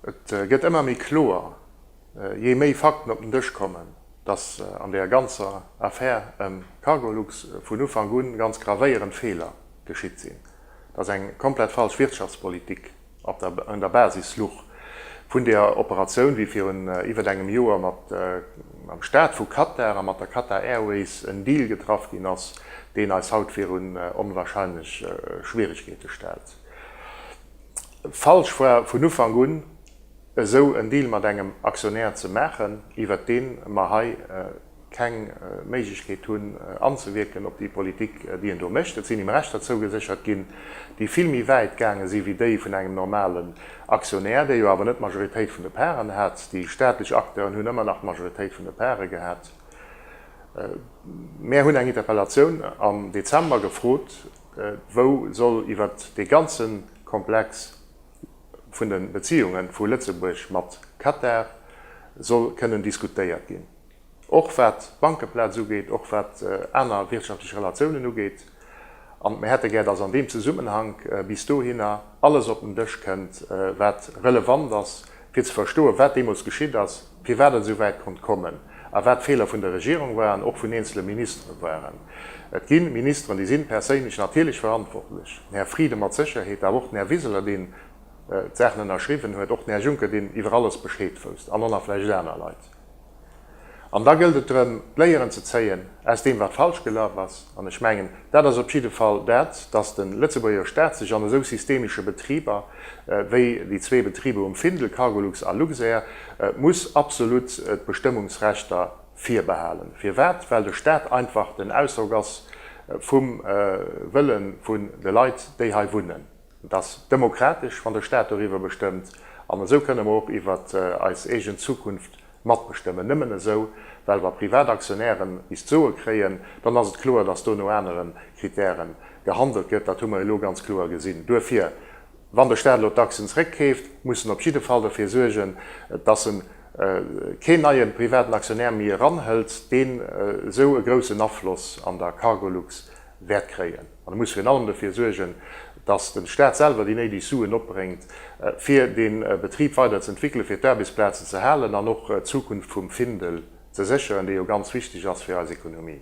Et gëtt ëmmer méi kloer, jee méi Fakten op den Dësch kommen, datt an där ganzer Affär ëm Cargolux vun Ufank un ganz gravéierend Feeler geschitt sinn, datt eng komplett falsch Wirtschaftspolitik Op der Basis Luch vun der Operatioun, wéi virun iwwert engem Joer mat am Staat vu Katar a mat der Qatar Airways en Deal getraff ginn ass, deen eis haut virun onwahrscheinlech Schwieregkeete stellt. Falsch war vun Ufank un, esou en Deal mat engem Aktionär ze maachen, iwwert dee mer hei, keng Méiglechkeet hunn anzewierken op déi Politik, déi een do mécht. Et sinn him Rechter zougeséchert ginn, déi vill méi wäit gaange si wéi déi vun engem normalen Aktionär, dee jo awer net d'Majoritéit vun de Paren hat. Déi staatlech Acteuren hunn ëmmer nach d'Majoritéit vun de Pare gehat. Mär hunn eng Interpellatioun am Dezember gefrot, wou soll iwwer dee ganze Komplex vun de Beziehunge vu Lëtzebuerg mat Katar soll kënnen diskutéiert ginn. och wat d'Bankeplaz ugeet, och wat aner wirtschaftlech Relatiounen ugeet. An mir hätte gär, dass an deem Zesummenhank bis dohinner alles op den Dësch kënnt, wat relevant ass, fir ze verstoen, wat deemools geschitt ass, firwat et esou wäit konnt kommen a wat d'Feeler vun der Regierung waren, och vun eenzele Ministere waren. Et gi Ministeren, déi si perséinlech natierlech verantwortlech, den Här Frieden mat Sécherheet, awer och den Här Wiseler, deen d'Saachen ënnerschriwwen huet, och den Här Juncker, deen iwwer alles Bescheed wousst, an och nach vläicht aner Leit. An da gëllt et drëm, d'Léieren ze zéien aus deem, wat falsch gelaf ass. An ech mengen, dat ass op jidde Fall dat, dass de Lëtzebuerger Staat sech an esou systemische Betriber, wéi déi zwee Betriber um Findel, Cargolux a Luxair, muss absolut d'Bestëmmungsrechter virbehalen. Firwat? Well de Staat einfach den Ausdrock ass vum Wëlle vun de Leit, déi hei wunnen. Et ass demokratesch, wann de Staat doriwwer bestëmmt, an esou kënne mer och iwwert eis eegen Zukunft matbestëmmen. Nëmmen esou, well wa privat Aktionären bis d'Soe kréien, dann ass et kloer, dass do no anere Kritäre gehandelt gëtt. Dat hu mer elo ganz kloer gesinn. Duerfir, wann de Staat elo d'Aktien zrëckkeeft, muss en op jidde Fall dofir suergen, dass e keen neie privaten Aktionär méi eranhëlt, deen esou e groussen Afloss an der Cargolux wäert kréien. An e muss virun allem dofir suergen, datt de Staat selwer déi néideg Suen opbréngt, fir dee Betrib weider ze entwéckelen, fir d'Aarbechtsplazen ze halen an och d'Zukunft vum Findel ze sécheren, dee jo ganz wichteg ass fir eis Ekonomie.